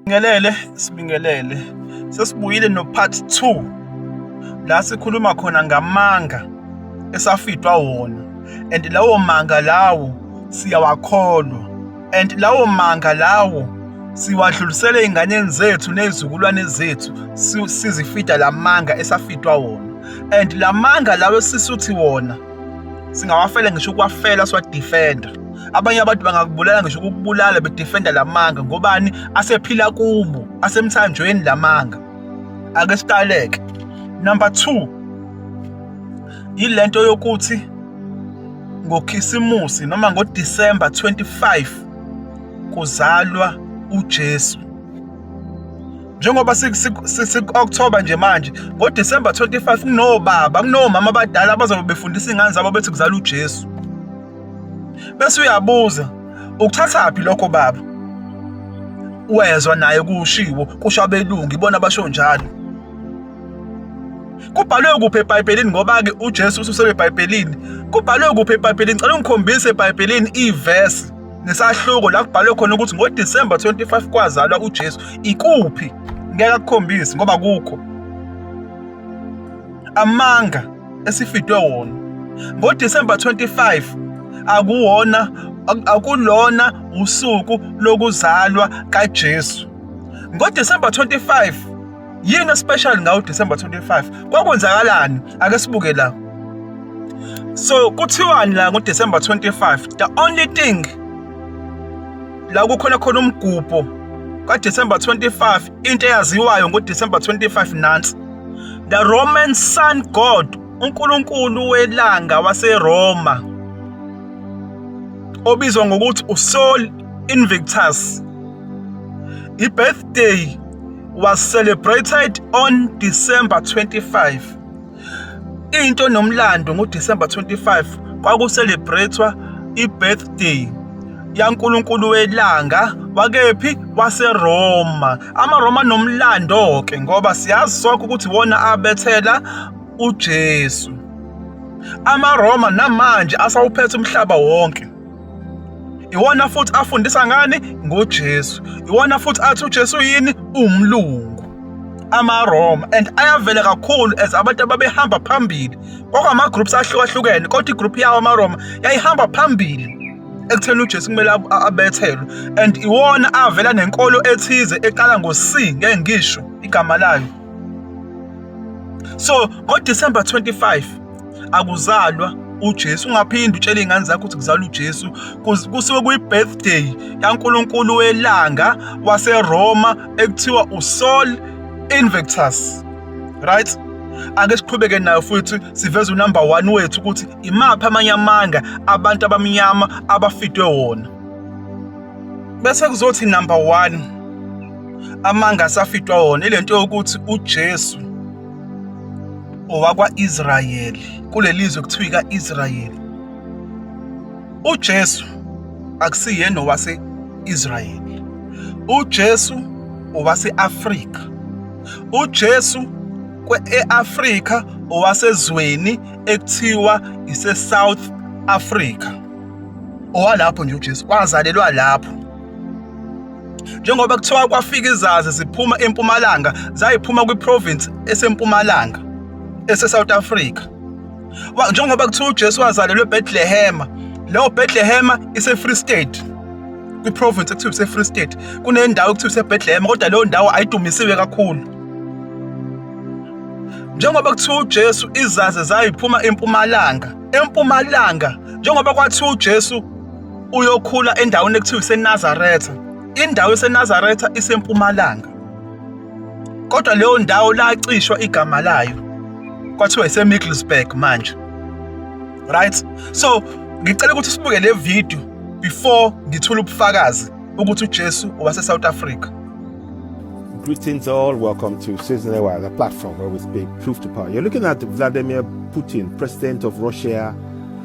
Sibingelele, sibingelele. Sesibuyile no part 2 la sikhuluma khona ngamanga esafidwa wona and lawo manga lawo siyawakholwa and lawo manga lawo siwadlulisele ey'nganeni zethu ney'zukulwane zethu sizifida la manga esafidwa wona and la manga lawo esisuthi wona singawafela ngisho ukuwafela siwadefenda abanye abantu bangakubulala ngisho ukubulala bedefenda lamanga ngobani asephila kubo asemthanjweni lamanga ake siqaleke number 2 yilento yokuthi ngokhisimusi noma ngoDisemba 25 kuzalwa uJesu njengoba siku-october nje manje ngodisemba 25 kunobaba kunomama abadala abazobe befundisa iy'ngane zabo bethi kuzala ujesu bese uyabuza ukuthathaphi lokho baba wezwa naye kushiwo kusho abelungu ibona basho njalo kubhalwe kuphi ebhayibhelini ngoba-ke ujesu ususele ebhayibhelini kubhalwe kuphi ebhayibhelini cela ungikhombise ebhayibhelini ivesi nesahluko la kubhalwe khona ukuthi ngoDisemba 25 kwazalwa uJesu ikuphi ngeke akukhombise ngoba kukho amanga esifidwe wona ngoDisemba 25 akuwona akulona usuku lokuzalwa kaJesu ngoDisemba 25 yini especial ngawo December 25 kwakwenzakalani ake sibuke la so kuthiwani la ngo December 25 the only thing la kukhona khona umgubho ka December 25 into eyaziwayo ngo December 25 nansi the Roman sun god uNkulunkulu welanga waseRoma obizwa ngokuthi uSol Invictus ibirthday was celebrated on December 25. Into nomlando ngoDecember 25 kwakucelebratewa ibirthday yaNkulunkulu welanga wakephi waseRoma. AmaRoma nomlando ke ngoba siyazi sonke ukuthi wona abethela uJesu. AmaRoma namanje asawuphethe umhlaba wonke. iwona futhi afundisa ngani ngoJesu iwona futhi athi uJesu yini umlungu amaRoma and ayavela kakhulu as abantu ababehamba phambili kwakama groups ahlukahlukene kodwa igroup yawo amaRoma yayihamba phambili ekutheni uJesu kumele abethelwe and iwona avela nenkolo ethize eqala ngo-C ngeke ngisho igama layo so ngoDecember 25 akuzalwa uJesu ungaphinde utshele izingane zakho ukuthi kuzalwa uJesu kusuke kuyi-birthday kaNkulunkulu welanga waseRoma ekuthiwa uSol Invictus right ake siqhubeke nayo futhi siveze unumber 1 wethu ukuthi imaphi amanye amanga abantu abamnyama abafidwe wona bese kuzothi number 1 amanga asafitwa wona ile nto yokuthi uJesu owakwa-Israyeli kuleli zwe kuthiwa ika-Israyeli uJesu akusiyena owase-Israyeli uJesu owase-Afrika uJesu kwe-Afrika owasezweni ekuthiwa ise-South Africa owalapho nje uJesu wazalelwa lapho njengoba kuthiwa kwafika izazi ziphuma empumalanga zayiphuma kwiprovince esempumalanga eseSouth Africa njengoba kuthiwa uJesu wazalelwe eBethlehema leyo Bethlehema iseFree State kwiprovince ekuthiwa iseFree State kunendawo ekuthiwa iseBethlehema kodwa leyo ndawo ayidumisiwe kakhulu njengoba kuthiwa uJesu izazi zayiphuma empumalanga empumalanga njengoba kwathiwa uJesu uyokhula endaweni ekuthiwa isenazaretha indawo esenazaretha isempumalanga kodwa leyo ndawo lacishwa igama layo kwathiwa isemiddlesburg manje right so ngicela ukuthi sibuke le video before ngithula ubufakazi ukuthi uJesu wase South Africa Greetings all, welcome to Season Aware, the platform where we speak truth to power. You're looking at Vladimir Putin, President of Russia,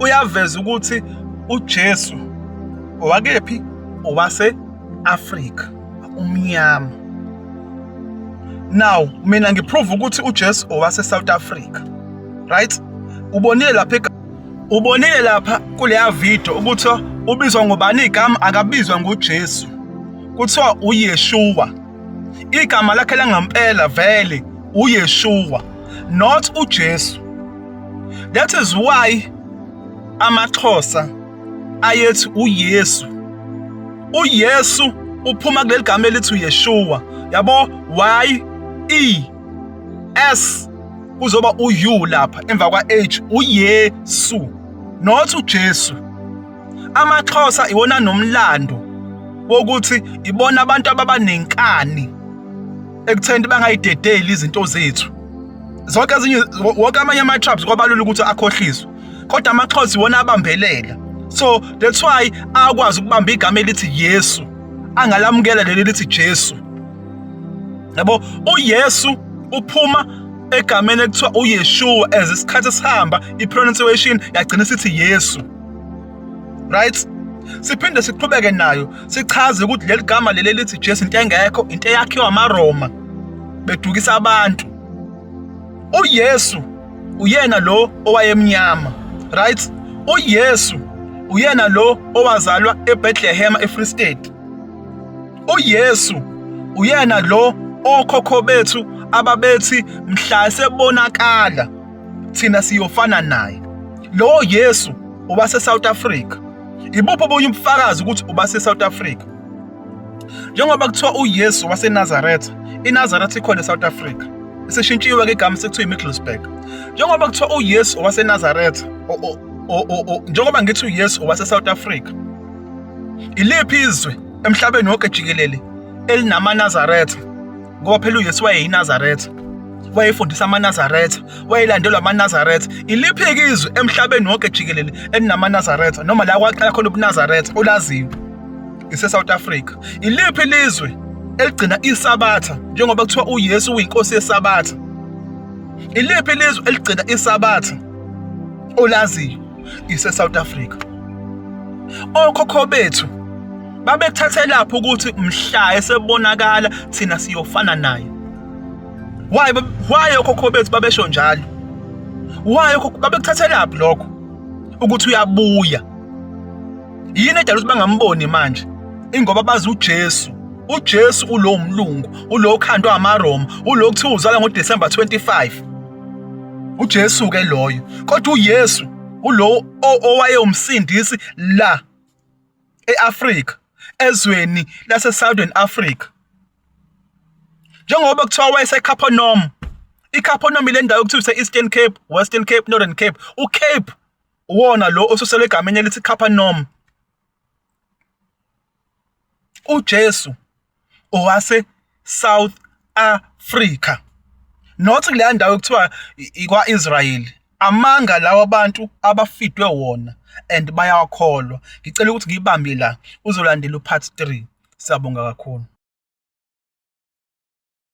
uyaveza ukuthi uJesu owakephi owase-Afrika umnyama now mina ngiprove ukuthi uJesu owase-South Africa right ubonile lapha ubonile lapha kuleya video ukuthi ubizwa ngobani igama akabizwa nguJesu kuthiwa uYeshua igama lakhe langempela vele uyeshuwa not ujesu that is why amaxhosa ayethi uyesu uyesu uphuma kuleli gama elithi uyeshuwa yabo y e s kuzoba u-u lapha emva kwa-h uyesu not ujesu amaxhosa iwona nomlando wokuthi ibona abantu ababa nenkani ekutheni bangayidedeli izinto zethu zonke ezinye wonke amanye ama-tribes kwabalula ukuthi akhohliswe kodwa amaxhosa iwona abambelela so that's why akwazi ukubamba igama elithi yesu angalamukela leli lithi jesu yabo uyesu uphuma egameni ekuthiwa uyeshuwa as isikhathi sihamba i-pronunciation yagcina isithi yesu right siphinde siqhubeke nayo sichaze ukuthi leli gama leli lithi Jesu into engekho into eyakhiwa amaRoma bedukisa abantu uYesu uyena lo owayemnyama right uYesu uyena lo owazalwa eBethlehem eFree State uYesu uyena lo okhokho bethu ababethi mhla sebonakala thina siyofana naye lowo Yesu uba seSouth Africa ibuphi obunye ubufakazi ukuthi uba seSouth Africa njengoba kuthiwa uYesu waseNazaretha iNazaretha ikhona eSouth Africa isishintshiwe ke igama sekuthiwa iMiddlesbrough njengoba kuthiwa uYesu waseNazaretha njengoba ngithi uYesu waseSouth Africa iliphi izwe emhlabeni wonke jikelele elinamaNazaretha ngoba phela uyesu wayeyinazaretha wayefundisa amanazaretha wayelandelwa amanazaretha iliphi-ke izwe emhlabeni wonke jikelele elinamanazaretha noma la kwaqala khona ubunazaretha olaziyo isesouth africa iliphi lizwe eligcina isabatha njengoba kuthiwa uyesu uyinkosi yesabatha iliphi lizwe eligcina isabatha olaziyo ise South Africa okhokho bethu babethathe lapho ukuthi mhla esebonakala thina siyofana naye why why okhokho bethu babesho njalo why okhokho babekuthathe lapho lokho ukuthi uyabuya yini edala ukuthi bangamboni manje ingoba bazi uJesu uJesu ulo mlungu ulo khandwa amaRoma ulo kuthiwa uzalwa ngoDecember 25 uJesu ke loyo kodwa uYesu ulowo owayewumsindisi la eAfrika ezweni lase Southern Africa njengoba kuthiwa wayeseCapernaum iCapernaum ile ndawo kuthiwa ise-Eastern Cape Western Cape Northern Cape uCape uwona lo osuselwe egameni elithi Capernaum uJesu owase South Africa not kuleya ndawo ekuthiwa ikwa-Israyeli. Amanga lawa abantu abafidwe wona and bayawakholwa. Ngicela ukuthi ngiyibambe la uzolandela upart three. Siyabonga kakhulu.